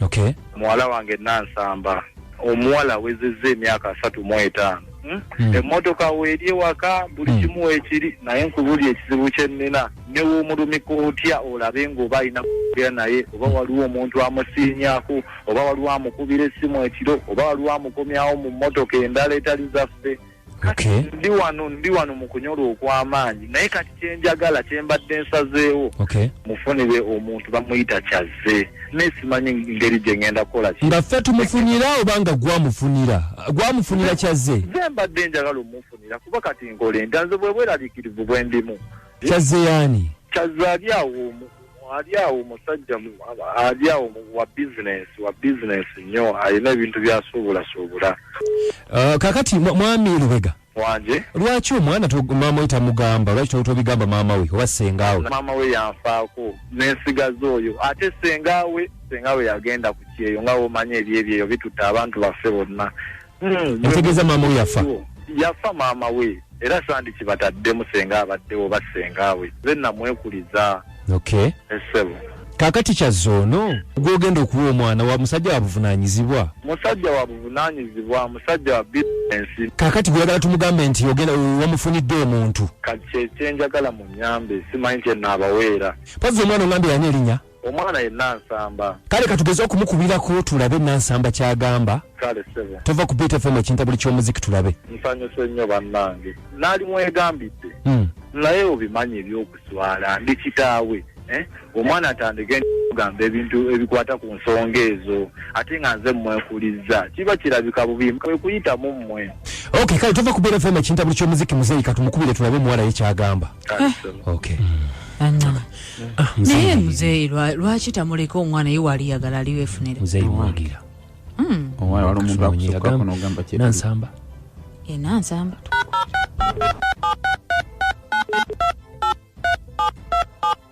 okay. muwala wange nansamba omuwala awezezza emyaka asatu mu etaano hmm? hmm. emmotoka weeri ewaka buli hmm. kimu wekiri naye nkubuli ekizibu kyennina newomulumika otya olabe ngaoba alina kuera naye oba waliwo omuntu amusiinyaku oba waliwo amukubira essimu ekiro oba waliwo amukomyawo mu mmotoka endala etali zaffe Okay. Ndi wano ndi wano mu kunyolwa okw'amaanyi naye kati kye njagala kye mbadde nsazeewo okay. mufunire omuntu bamuyita kyazze naye simanyi ngeri gye ngenda kukola ki nga ffe tumufunira oba nga gwamufunira gwamufunira kyazze ze mbadde njagala omufunira kuba kati nkole ntanze bwe bweraliikirivu bwe ndimu kyazze yaani kyazze ali awo omu alyawo musajja alyawo wa business wa business nnyo alina ebintu byasuubulasuubula uh, kakati mwami lubega wanje lwaki omwana maama we tamugamba lwaki tobigamba maama we oba sengaawe maama we yanfaako nensigaza oyo ate sengaawe sengaawe yagenda ku kyeyo nga womanya ebyebyeyo bitutte abantu baffe bonna hmm, yategeeza maama we yafa yafa maama we era sandi kibataddemu senga abaddewo oba senga we ze namwekuliza okay esebo kakati kyazoono gwogenda okuwa omwana wa musajja wabuvunanyizibwa musajja wabuvunanyizibwa musajja wa bisinesi kakati gweyagala tumugambe nti ogenda wamufunidde omuntu kati kyekyenjagala munyambe simanyi kyenaabaweera pazi omwana ogambye yani erinya omwana ye nansamba Kale katugeze okumukubirako tulabe Nansamba kyagamba. kale sebo Tova ku Beat FM ekinta buli ky'omuziki tulabe. nsanyuse nnyo bannange naali mwegambidde Mm. naye obimanyi ebyokuswala ndi kitaawe eh? omwana atandike kugamba ebintu ebikwata ku nsonga ezo ate nga nze mmwekulizza kiba kirabika bubi kwe kuyitamu mmwe Okay, kale tova ku Beat FM ekinta buli ky'omuziki muzeeyi katumukubire tulabe omuwala ye kyagamba. naye muzeeyi lwaki tamuleka omwana ye waali yagala aliwo efunire hmm. nansamba enansamba eh,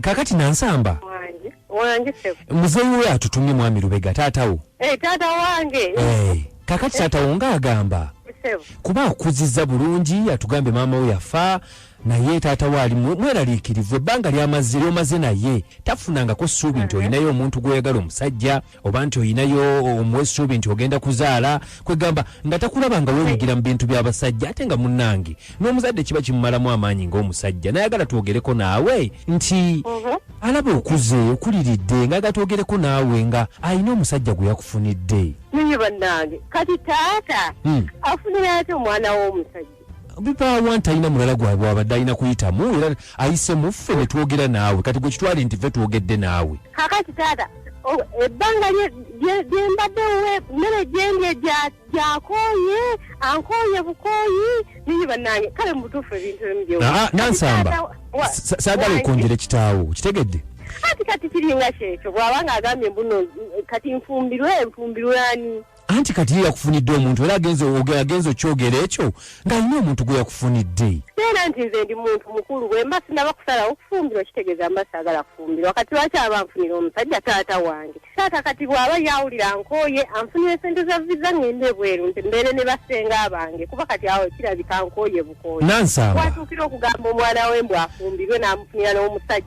kakati nansamba wangi wangi sebo muzeeyi we atutumye mwami lubega taatawo hey, eh, taata wange hey. Eh, kakati eh. taatawo nga agamba sebo kuba akuziza bulungi atugambe maama we yafa naye taata waali mweraliikirivu ebbanga lyamaze lyomaze naye tafunangako ssuubi nti olinayo omuntu gw'oyagala omusajja oba nti olinayo omuwa essuubi nti ogenda kuzaala kwegamba nga takulaba nga weenyigira mu bintu by'abasajja ate nga munnange n'omuzadde kiba kimumalamu amaanyi ng'omusajja nayagala twogereko naawe nti mhm. alaba okuze okuliridde nga gatwogereko naawe nga alina omusajja gwe yakufunidde naye bannange kati taata hmm. afunira ati omwana w'omusajja bibawanti alina mulala gwabwe abadde alina kuyitamu era ayise muffe ne twogera naawe kati gwe kitwale nti ffe twogedde naawe kakati taata ebbanga lyembadde we mmere gyendye gyakooye ankooye bukooyi niyi bannange kale mubutuufu ebintu ebimu gye ah, ah, nansamba saagala okwongera ekitaawo kitegedde kati kati kiringa kyekyo bwabanga agambye mbuno kati nfumbirwe nfumbirwe ani anti kati ye yakufunidde omuntu era agenze ogera agenze okyogera ekyo ng'alina omuntu gwe yakufunidde era nti nze ndi muntu mukulu bwe mba sinaba kusalawo kufumbirwa kitegeeza mba saagala kufumbirwa kati lwaki aba anfunira omusajja taata wange taata kati bw'aba yawulira nkooye anfunira esente za viza ng'enda ebweru nti mbeere ne basenga abange kuba kati awo kirabika nkooye bukooye nansamba watuukira okugamba omwana we mbw afumbirwe n'amufunira n'omusajja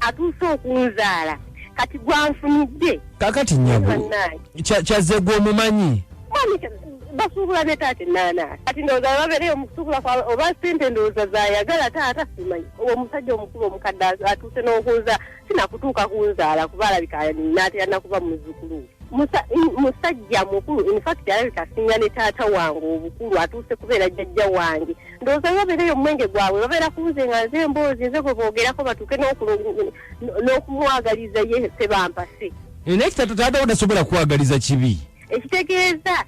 atuuse okunzaala kati gwanfunidde kakati nyabo kyazze gwe omumanyi basuubula ne taata enaana kati ndowooza bababeereyo mukusuubula kwabwe oba sente ndowooza zayagala taata simanyi owo omusajja omukulu omukadde atuuse n'okunza sinakutuuka kunzaala kuba alabika naatera nakuba muzzukulu musajja mukulu infact alabika asinga ne taata wange obukulu atuuse kubeera jjajja wange ndowooza bwe babeera eyo omwenge gwabwe babeera kunze nga nze emboozi nze gwe boogerako batuuke n'okumwagaliza ye sebampase eh, naye kitatu taata wo tasobola kwagaliza kibi ekitegeeza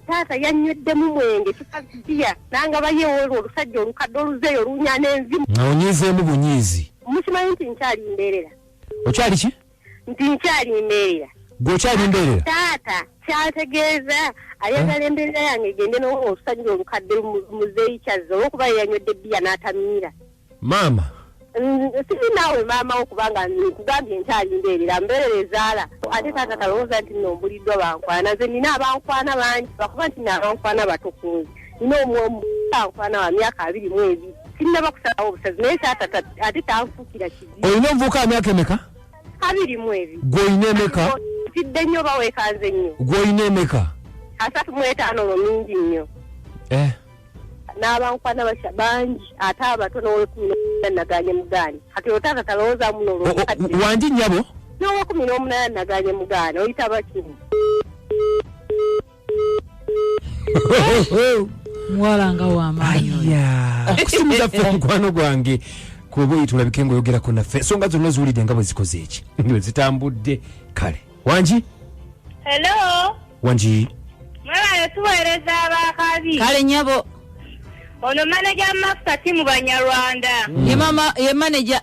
taata yannyoddemu mwenge kikaziya nanga bayewoolwa olusajja olukadde oluzeeyo olunya n'enzimu nga onyiizeemu bunyiizi mukimanyi nti nkyali mbeerera okyali ki nti nkyali mbeerera gwe okyali mbeerera taata kyategeeza ayagala eh? embeerera yange egende nolusajja olukadde muzeeyi kyazza olwokuba yeyanywedde bbiya n'atamiira maama siri naawe maama wo kubanga nkugambye nkyali mbeerera mbeerera ezaala ate taata talowooza nti nombuliddwa bankwana nze nina abankwana bangi bakuba nti na abankwana batukunzi nina omwomu bankwana wa myaka abiri mu ebiri sinnaba kusalawo obusazi naye taata ate tanfuukira ki olina omuvubuka wamyaka emeka abiri mu ebiri gwolina emeka tidde nnyo oba wekanze nnyo gwolina emeka asatu mu etaano olwo mingi nnyo eh. n'abankwana basha bangi ate abato n'owekumi n'omunana naganye mugaani kati otaata talowooza muno wangi nnyabo n'owekumi n'omunana naganye mugaani oyita bakini muwala nga wamaanyi okusimiza fe mukwano gwange kuba oyi tulabike ngaoyogerako naffe ensonga zonna ziwulidde nga bwe zikoze eki bwe zitambudde kale wangi helo wangi mwebayo tuweereza abakazi kale nyabo ono maneja mafuta timu banyarwanda ye maneja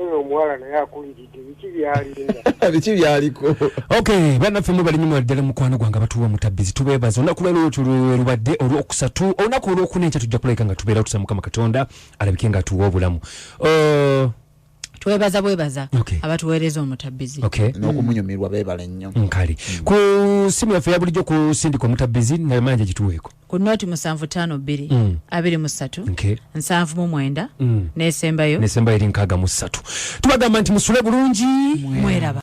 Oyo omuwala naye akuliridde biki byalinda. Biki byaliko. Okay, bana ffe mubali nyuma ddala mukwano gwange abatuwa mutabbizi tubeebaza olunaku lwero lwetyo lwerubadde olwokusatu olunaku olwokuna enkya tujja kulabika nga tubeera tusa mukama katonda alabike nga atuwa obulamu uh, twebaza bwebaza okay. abatuweereza omutabbizi okay. Mm. n'okumunyumirwa beebale nnyo nkale mm. ku simu yaffe ya bulijjo kusindika omutabbizi naye manja gituweeko ku noti musanvu tano bbiri mm. abiri mu ssatu okay. nsanvu mu mwenda mm. nesembayo nesembayo eri nkaaga mu ssatu tubagamba nti musule bulungi mweraba